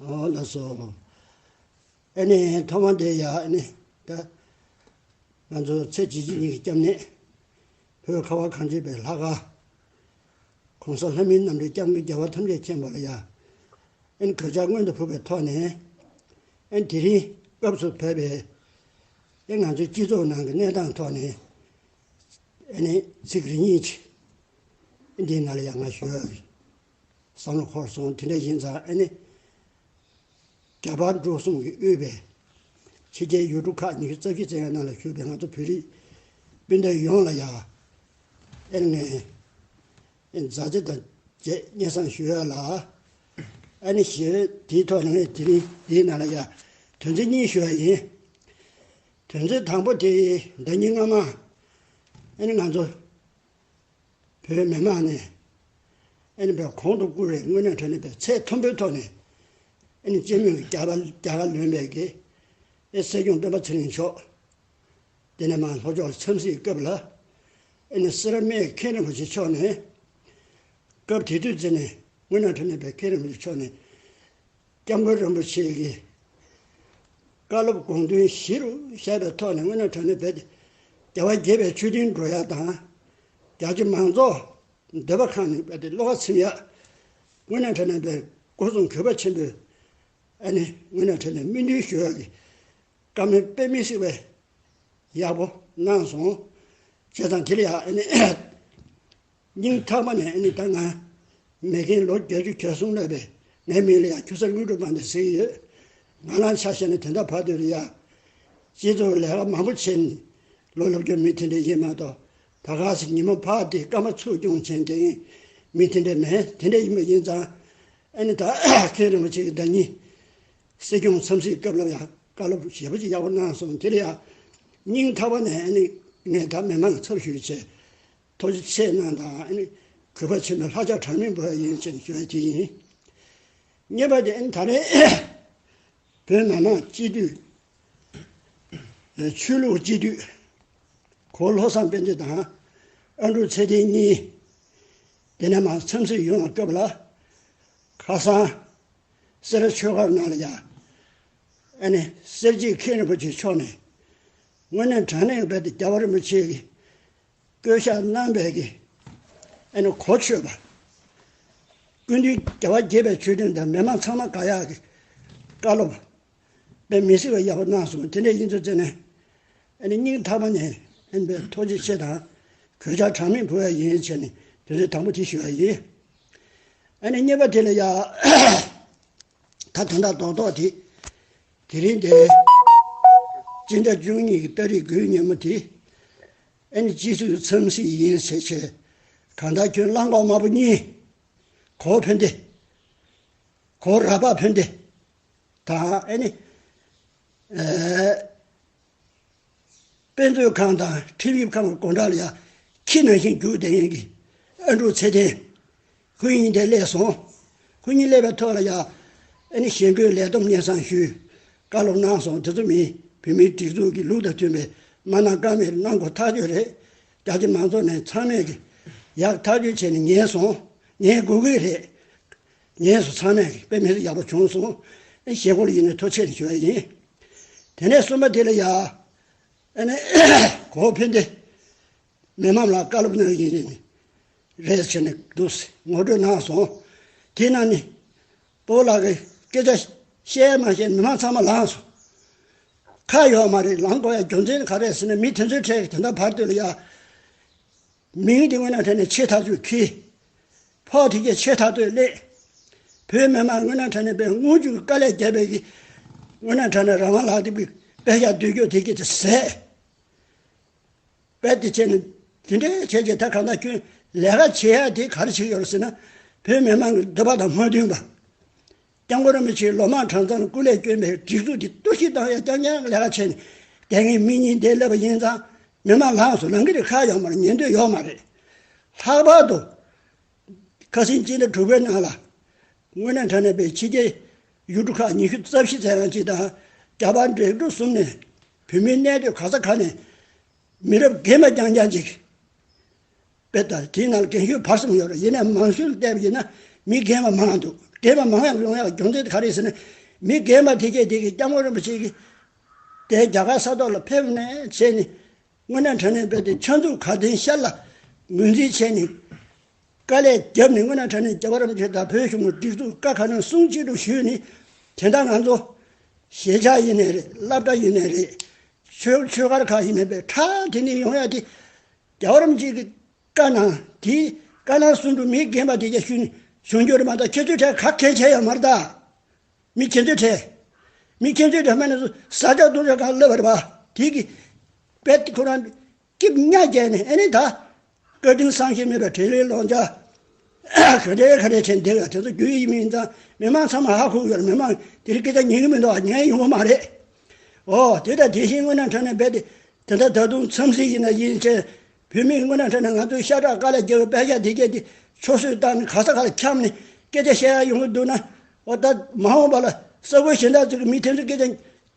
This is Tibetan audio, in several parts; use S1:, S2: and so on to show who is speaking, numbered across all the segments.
S1: ཨོ་ལ་སོ། ཨེ་ནས་ཐོག་མ་དེ་ཡ་ཨེ་ནས་ད། ང་ཚོ་ཚེ་གཅིག་གཅིག་གཉིས་ཀྱི་སྐྱབས་གནས། བོད་ཁ་བ་གངས་ཅན་པའི་ལྷ་དགའ། གོང་ས་ལྷ་མིའི་རྣམ་འདྲེན་སྐྱབས་མགོན་རྒྱལ་བ་ཐམས་ཅད་མཁྱེན་པ་ལ་ཡ་ཨེ་ནས་གོད་ཆག་སྔོན་དུ་ཕུད་པའི་ཐོག་ནས། ཨེ་ནས་དེ་རིང་སྐབས་སུ་བབས་པའི། ཨེ་ནས་ང་ཚོའི་སྤྱི་ཚོགས་ནང་གི་གནས་སྟངས་ཐོག་ནས། ཨེ་ནས་ཚིག་རེ་གཉིས། ཨེ་ནས་འདི་ང་ལ་ཡ་ང་ཞུ། བསམ་བློ་ཧོར་སོང་དེ་འདྲ་ཡིན་ཙང་ཨ་ནེ་རྒྱ་བལ་འབྲུག་གསུམ་གྱི་དབུས་པའི་ཕྱི་རྒྱལ་ཡུལ་གྲུ་ཁག་ཉི་ཤུ་རྩ་བཞི་བཙན་བྱོལ་ནང་ལ་བཞུགས་པའི་ང་ཚོ་བོད་རིགས་སྤུན་ཟླ་ཡོངས་ལ་ཡང་ཨེར་ངའི་མཛའ་བརྩེ་དང་བཅས་སྙན་གསང་ཞུ་ཡ་ལ། ཨ་ནེ་ཞེས་པའི་དེའི་ཐོག་ནས་དེ་རིང་འདིའི་ནང་ལ་ཡང་དོན་ཚན་གཉིས་ཞུ་ཡ་ཡིན། དོན་ཚན་དང་པོ་དེ་ཟླ་གཉིས་སྔ་མ་ཨེར་ང་ཚོ་བོད་མི་དམངས་ནས་ཨིན་བལ་གོང་དུ་བཀུར་བའི་དངོས་གནས་ཁྲོད་ནས་པའི་ཚད་མཐོན་པོའི་ཐོག་ནས་ཨིན་སྤྱི་མོས་ཀྱི་རྒྱ་གར་བློན་པའི་དགེ་བའི་སྲས་སྐྱོང་སྤེན་པ་ཚེ་རིང་མཆོག་དེ་ནས་མར་ལྷོ་ཕྱོགས་འཚམས་གཟིགས་སྐབས་ལ་ཨིན་སེ་ར་མེའི་མཁན་རིན་པོ་ཆེ་མཆོག་ནས་སྐབས་དེ་དུས་རྩེ་ནས་དངོས་གནས་ཁྲོད་ནས་པའི་མཁན་རིན་པོ་ཆེ་མཆོག་ནས་སྐྱབས་མགོན་རིན་པོ་ཆེ་གིས་བཀའ་སློབ་དགོངས་དོན་གཞི་རུ་བཞག་པའི་ཐོག་ནས་སྔོན་ནས་དྲང་ནས་བས་ཏེ། རྒྱལ་བ་དགྱེས་པའི་ཆོས་སྤྲིན་སྒྲོག་ཡག་དང། རྒྱ་ཆེ་མང་ཚོགས་འདོད་པ་ཁང་ནས་བས་ཏེ་བློ་ཁ་ཚིམ་ཡག། སྔོན་ནས་དྲང་ནས་བས་སྒོ་སྲུང་གུས་པ་ཆེན་པོས་ཨ་ནི་སྔོན་ནས་དྲང་ནས་སྨིན་གྲོལ་ཞུ་ཡག་གི་བཀའ་མོལ་དཔེ་མི་སྲིད་པའི་ཡག་པོ་གནང་སོང་བྱས་ཙང་དེ་ལས་ཡག་ཨ་ནི། སྙིང་ཐག་པ་ནས་ཨེ་ནི་ད་ང་མེད་གིན་ལོ་བརྒྱད་ཅུ་གྱ་གསུམ་ལོས་པས་ངའི་མིང་ལ་ཡང་ཁྱུ་ས་དངུལ་གྲུ་པ་འདི་ཟེར་གྱི་ཡོད། ང་རང་ཆ་ཤས་ནས་དེ་འདྲ་བར་དོད་རེད་ཡ། སྤྱི་ཚོགས་ལས་ཀ་མང་པོ་བྱས་ནས་ལོ་ལོ་བརྒྱ་མི་དེ་འདྲས་ཡིན་མ་གཏོགས་ད་ག་ཟེ་ཉིན་མོ་ཕག་དེའི་སྐར་མ་ཚུགས་སྐྱོང་བྱེད་མཁན་མི་དེ་འདྲས་མེད་དེ་འདྲས་ཡིན་པ་ཡིན་ཙང་ཨེ་ནི་ད་མཁན་རིན་པོ་ཆེ་གི་བདག་ཉིད་སྲིད་སྐྱོང་འཚམས་གཟིགས་སྐབས་ལ་ཡང་བཀའ་སློབ་ཞེ་པོ་ཅིག་ཡག་པོ་གནང་སོང་དེར་ཡང་སྙིང་ཐག་པ་ནས་ཨེ་ནི་ངས་ད་མི་མང་ཚབ་ཞུ་བྱས་ཐུགས་རྗེ་ཆེ་གནང་དང། གུས་པ་ཆེན་པོས་ལྷག་ཆ་གྲངས་མེད་འབུལ་བ་ཡིན་ཅེས་བརྗོད་ཀྱི་ཡིན། བརྙན་པར་དེ་ད་རེས་བོད་ནང་ནང་སྤྱི་འཐུས། ཆོས་ལུགས་སྤྱི་འཐུས། གོ་ལྷོ་བསམ་སྤེན་ཚེ་དང་ཨ་འབྲུག་ཚེ་བརྟན་གཉིས་དེ་ནས་མར་འཚམས་གཟིགས་ཡོང་བའི་སྐབས་ལ། ཁ་སང་སེ་ར་ཆོས་སྒར་ནང་ལ་ཡང་ཨ་ནེ་གསེར་གྱི་མཁན་རིན་པོ་ཆེ་མཆོག་ནས་དངོས་གནས་དྲང་གནས་ངེས་པར་དུ་རྒྱལ་བ་རིན་པོ་ཆེའི་བསྐལ་བཞག་རྣམ་པའི་རྒྱན། ཨེ་ནི་གོ་ཆོད་པ། ཀུན་འདུས་རྒྱལ་བ་དགྱེས་པའི་མཆོད་སྤྲིན་དང་མི་མང་ཚང་མ་དགའ་ཡག་གི། བཀའ་སློབ། པའི་མི་སྲིད་པ་ཡག་པོ་གནང་སོང་དེ་འདྲའི་དབྱིན་ཚུལ་བརྩེ་ནས། ཨེ་ནི་སྙིང་ཐག་པ་ནས་ཨེ་ནི་པའི་ཐོག་ཅིག་ཆེ་དང། གོད་ཆག་གྲངས་མེད་འཕོ་བའི་ཡིན་ཡིན་བྱས་ནས་དུས་ཚོད་དང་པོ་དེ་ཞུ་བ་ཡིན། ཨེ་ནི་གཉིས་པ་དེ་ལས་ཡག། ད་དེ་འདྲ་རྡོག་རྡོག་དེ། དེ་རིང་དེ། ཅི་འདྲ་བཅུ་གཉིས་ཀྱི་སྟ་རི་སྒོའི་ཉིན་མོ་དེ། ཨེ་ནི་ཅི་ཞིག་འཚམས་ཤིག་ཡིན་ཟེར་ཆེད། གང་ལྟར་ཁྱོད་གླང་གོག་དམར་པོ་གཉིས། གོག་འཕེན་ཏེ། གོག་ར་པགས་འཕེན་ཏེ། དང་ཨེ་ནི། དཔེ་མཛོད་ཁང་དང་ཁྲིམས་ཞིབ་ཁང་གི་དགོང་དྲག་ལ་ཡར་ཁྱི་ནང་བཞིན་རྒྱུགས་བསྡད་ཡོང་གི། ཨ་འབྲུག་ཚེ་བརྟན། ཁོང་ཉིད་དེ་སླེབས་སོང། ཁོང་ཉིད་སླེབས་པའི་ཐོག་ལ་ཡང། ཨེ་ནི་གཞེན་སྐུལ་ལས་བསྡོམས་སྙན་གསང་ཞུས། བཀའ་སློབ་གནང་སོང་དེ་ཚོ་མིན། བོད་མིའི་སྒྲིག་འཛུགས་ཀྱི་ལུགས་དང་མཐུན་པའི་མ་གནང་བཀའ་མེད་གནང་དགོས་ཐག་གཅོད་རེད། རྒྱ་ཆེ་མང་ཚོགས་ནས་ཚང་མས་ཀྱི། ཡག་ཐག་གཅོད་བྱས་ནས་ཉན་སོང། ཉན་དགོས་ཀྱི་རེད། ཉན་སོང་ཚང་མས་ཀྱི་དཔེ་མི་ཡག་པོ་བྱུང་སོང། ཨེ་ནི་གཞེན་སྐུལ་ཡིན་ནའི་ཐོ་ཆེ་རེ་ཞུ་བ་ཡིན། དེ་ནས་གསུམ་པ་དེ་ལ་ཡང། ཨེ་ནི་གོང་འཕེལ་འདི། མི་དམངས་ལ་བཀའ་སློབ་གནང་ཡུལ་ནི་རེད་ཟེར་ནས་འདུག་ཟེར་ངོ་སྤྲོད་གནང་སོང། དེས་ན་ནི། པོ་ལགས་ཀྱིས་སྐད་ཆ་བཤད་མ་བཤད་མི་དམངས་ཚང་མ་ལངས་སོང། ཁ་ཡོད་མ་རེད་ལངས་དགོས་ཡ་རྒྱུ་མཚན་ག་རེད་ཟེར་ནས་མི་དེ་ཚོའི་གྲས་ཀྱི་དེ་འདྲ་བར་དོད་ལ་ཡ། མིང་དེ་སྔོན་ན་ཁྲལ་ནས་ཆེས་ཐག་གཅོད་ཁི། ཕོག་དེ་གས་ཆེས་ཐག་གཏོད་སླེད། བོད་མི་དམངས་སྔོན་ན་ཁྲལ་ནས་པའི་དངུལ་བཅུ་དཀའ་ལས་རྒྱལ་བས་ཀྱི། སྔོན་ན་ཁྲལ་ནས་རང་དབང་ལག་དེབ་ཀྱི་དཔེ་ཞག་བསྡུས་རྒྱུ་དེ་གས་ཚེ་ཟད། དཔེ་དེ་བྱས་ནས་དེ་འདྲའི་ཁྱེད་ཀྱི་ཐད་ཁ་ན་ཁྱོད་ལས་ཀ་བྱེད་ཡ་དེ་ག་རེ་བྱེད་ཡོད་ཟེར་ན། བོད་མི་མང་གི་འདོད་པ་དང་སྨོན་འདུན་པ། སྐྱབས་མགོན་རིན་པོ་ཆེའི་ལོ་མང་གྲངས་ཚང་སྐུ་ལས་བསྐྱོན་པའི་སྒྲིག་འཛུགས་དེ་གཏོར་བཤིག་བཏང་ཡ་རྐྱང་རྐྱང་ལས་ཀ་བྱས་ནས་དེ་སྔའི་མི་གཉིས་བསྡད་སླེབས་པ་ཡིན་ཙང་མི་མང་ལངས་སུ་ལངས་གི་རེད་ཁ་ཡངས་པར་ཉན་འདོད་ཡོད་མ་རེད། ལྷག་པར་དུ། ཁ་སེང་གཅིག་ལས་དྲུག་པའི་ནང་ལ། དངོས་གནས་དྲ་གནས་པའི་ཕྱི་རྒྱལ་ཡུལ་གྲུ་ཁག་ཉི་ཤུ་རྩ་བཞི་ཚན་རང་གཅིག་དང་རྒྱ་བལ་འབྲེལ་གྲུ་གསུམ་ནས་བོད་མི་གནས་སྡོད་ག་ས་ག་ནས་མི་རབས་རྒན་པ་རྐྱང་རྐྱང་ཅིག་དཔེ་ལྟ་དེའི་ནང་རྒན་ཤོས་བར་གསུམ་ཡོད་རེད་ཡིན་ན་མང་ཤོས་ལ་བལྟས་པ་ཡིན་ན་མི་རྒན་པ་མང་འདུག་རྒན་པ་མང་ཡང་ཡོང་ཡག་སྦྱོང་ཚད་ག་རེ་ཟེར་ན་མི་རྒན་པ་དེ་གས་དེ་གས་སྐྱབས་མགོན་རིན་པོ་ཆེ་གིས་དེ་རྒྱ་གར་ས་ཐོག་ལ་ཕེབས་ནས་བྱས་ནས་དངོས་གནས་དྲན་ནས་བལྟས་ཏེ་ཕྱག་མཛུབ་ག་དེང་ཤར་ལ་ངོས་འཛིན་བྱས་ནས། དཀའ་ལས་བརྒྱབ་ནས་སྔོན་ན་ཁྲ་ནས་རྒྱ་བར་རམ་ཁྱོད་དང་བོད་གཞུང་གི་སྒྲིག་འཛུགས་དཀའ་ཁག་ནང་སྲུང་གཅིག་ཏུ་ཞུས་ནས་དེ་འདྲ་ང་ཚོ། ཞེ་ཆགས་ཡེ་ནས་རེད་བསླབ་གྲྭ་ཡེ་ནས་རེད། ཆོས་ཆོས་སྒར་ཁག་ཡེ་ནས་པའི་ཁྲ་དེ་ནས་ཡོང་ཡ་དེ། རྒྱ་བར་རམ་གཅིག་གི་དཀའ་ནང་དེ་དཀའ་ནང་སྲུང་འདུག་མི་རྒན་པ་དེ་རྒྱ་ཞུས་ནས་གཞུང་འགྱུར་མ་ད་ཁྱེད་ཚོའི་ཁྲ་ག་གལ་ཆེ་ཡ་མར་ད། མི་ཁྱེད་ཚོའི་ཁྲ། མི་ཁྱེད་ཚོའི་ཁྲ་མ་ནས་བཟོ་ས་ཆ་སྟོང་ཆ་གང་བསླབ་བར་བ་དེ་གི། པད་ཁོ་རང། སྐྱིབས་གཉའ་བརྒྱད་ནས་ཨེ་ནི་ད། བཀའ་དྲིན་བསམ་ཤེས་མེད་པའི་དྲིན་ལན་སློང་བྱ། ཁ་བྲལ་ཁ་བྲལ་ཆེན་འདི་ལ་དེ་ཚོ་རྒྱུ་ཡིན་མིན་ཙང་མི་མང་ཚང་མ་ཧ་ཁུག་ཡོད་མི་མང་དེ་རིགས་སྐད་ཆ་ཉན་གི་མི་འདུག་ཨ་ཉན་ཡོང་གི་མ་རེད། ཨོ་དེ་ལྟར་དེ་བཞིན་སྔོན་ན་འཕྲལ་ནས་རྦད་དེ་དེ་འདྲ་ད་དུང་འཚམས་གཟིགས་ཡིན་ན་ཡིན་མཁྱེན། བོད་མིས་སྔོན་ན་འཕྲལ་ནས་ང་ཚོའི་ཤ་ཁྲག་དཀར་ལ་རྒྱལ་བའི་པད་ཤ་དེ་རྒྱལ་དེ་ཆོ་སོས་བཏང་ནས་ག་ས་ག་ལ་འཁྱམས་ནས་སྐད་ཆ་བཤད་ཡ་ཡོང་གི་འདུག་ན། ཨོ་ད་མ་འོངས་པ་ལ་ས་བོད་གཞན་དག་ཚོས་ཀྱི་མི་དེ་ཚོས་སྐད་ཆ་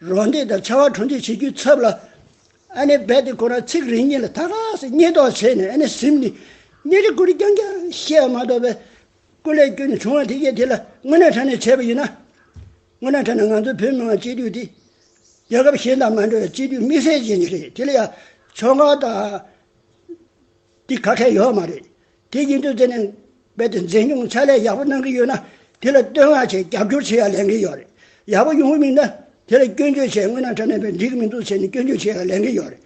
S1: རོགས་འདེགས་དང་ཕྱར་བ་གྲུ་འདེགས་བྱེད་རྒྱུའི་ཚབ་ལ་རྦད་དེ་ཁོ་རང་ཚིག་རེ་གཉིས་ལ་ཐག་ཐག་སེ་སྙད་ཏོག་བྱས་ནས་གཟིམས་ནས་གཉེར་རིས་ཀུན་རྐྱང་རྐྱང་བཤད་པ་མ་གཏོགས་པའི་སྐུ་ལས་སྐྱོན་ནས་བྱུང་བ་དེ་བརྒྱད་དེ་ལ་དངོས་གནས་ཕྲ་ནས་བྱས་པ་ཡིན་ན། དངོས་གནས་ཕྲ་ན་ང་ཚོ་བོད་མི་དམངས་སྤྱི་འཐུས་དེ་རྒྱལ་ཁབ་གཞན་དང་མ་འདྲ་བའི་སྤྱི་འཐུས་དམིགས་བསལ་ཅན་ཞིག་རེད་དེ་ལ་ཡང་ཕྱོགས་འགལ་དང། དེ་ཁ་ཁས་ཡོད་མ་རེད། དེ་ཡིན་དུས་དེ་ནས་རྦད་དེ་མཛེས་ཉུང་ཕྱག་ལས་ཡག་པོ་གནང་གི་ཡོད་ན་དེ་ལ་བསྟོད་བསྔགས་བྱས་རྒྱབ་སྐྱོར་བྱེད་ཡ་ལན་གི་ཡོད་རེད། ཡག་པོ་ཡོང་གི་མིན་ན་དེ་ལ་སྐྱོན་བརྗོད་བྱས་དངོས་ན་དྲ་གནས་པས་འགྲིག་གི་མི་འདུག་ཟེར་ནས་སྐྱོན་བརྗོད་བྱེད་ཡ་ལན་གི་ཡོད་རེད།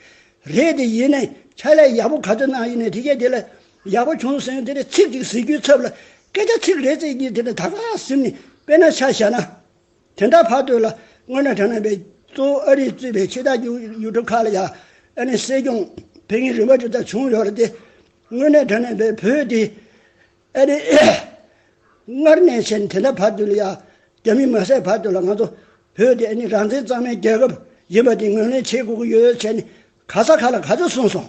S1: རེད་དེ་ཡིན་ནས་ཕྱག་ལས་ཡག་པོ་ག་ཚོད་གནང་ཡིན་ནས་དེ་གས་དེ་ལ་ཡག་པོ་བྱུང་ཟེར་ནས་དེ་ནས་ཚིག་ཅིག་ཟེར་རྒྱུའི་ཚབ་ལ་སྐད་ཆ་ཚིག་རེ་བརྩེགས་རྒྱུ་དེ་ནས་ད་ག་ཟིམ་ནས་དཔེ་ན་ཆ་བཞག་ན། དེ་འདྲ་བར་དོ་ལ་སྔོན་ལ་དྲ་ནང་པའི་གཙོ་བོ་ཨ་རིས་གཙོས་པའི་ཕྱི་དར་རྒྱུགས་ཡུལ་གྲུ་ཁག་ལ་ཡང་ཨ་ནེ་སྲིད་སྐྱོང་བོད་མིའི་རིམ་པ་དེ་ལྟར་བྱུང་ཡོད་རེད་དེ། དངོས་གནས་དྲ་ནང་པའི་བོད་དེ་ཨ་རི་སྔར་ནས་བྱས་ནས་དེ་འདྲ་བར་དོ་ལ་ཡང་རྒྱ་མིས་མ་བསད་བར་དོ་ལ་ང་ཚོ་བོད་དེ་ཨ་ནེ་རང་བཙན་གཙང་མའི་རྒྱལ་ཁབ་ཡིན་པ་དེ་ངོས་ལེན་བྱེད་དགོས་ཀྱི་ཡོད་བྱས་ནས་ག་ས་ག་ལ་ག་ཚོད་གསུངས་སོང།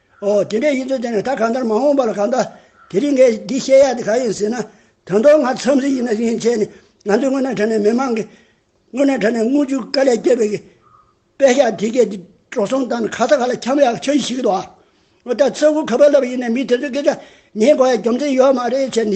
S1: ཨོ། དེ་འདྲའི་ཡིད་ཚོད་དེ་ནི་ད་གང་ལྟར་མ་འོངས་པ་ལ་གང་ལྟ། དེ་རིང་ངས་འདི་བཤད་ཡག་དེ་གང་ཡིན་ཟེར་ན། དོན་ཐོག་ང་འཚམས་གཟིགས་ཡིན་ན་རིན་ཆེན་ནི་ང་ཚོའི་སྔོན་གནས་གྲ་ནས་མི་མང་གི། སྔོན་གནས་གྲ་ནས་རྔུལ་ཆུ་དཀའ་ལས་སྐྱེལ་བའི་གི། དཔེ་ཞག་དེ་གས་དེ་འགྲོ་སོང་དང་ནི་ཁ་ཚ་ག་ལ་འཁྱམ་ཡག་ཆོས་ཞིག་གི་འདུག་ཨ། ཨོ་ད་ཚོད་དགུ་ག་པར་ལབ་ཡིན་ནས་མི་དེ་ཚོའི་སྐད་ཆ་ཉན་དགོས་ཡ་རྒྱུ་མཚན་ཡོད་མ་རེད་བྱས་ནས།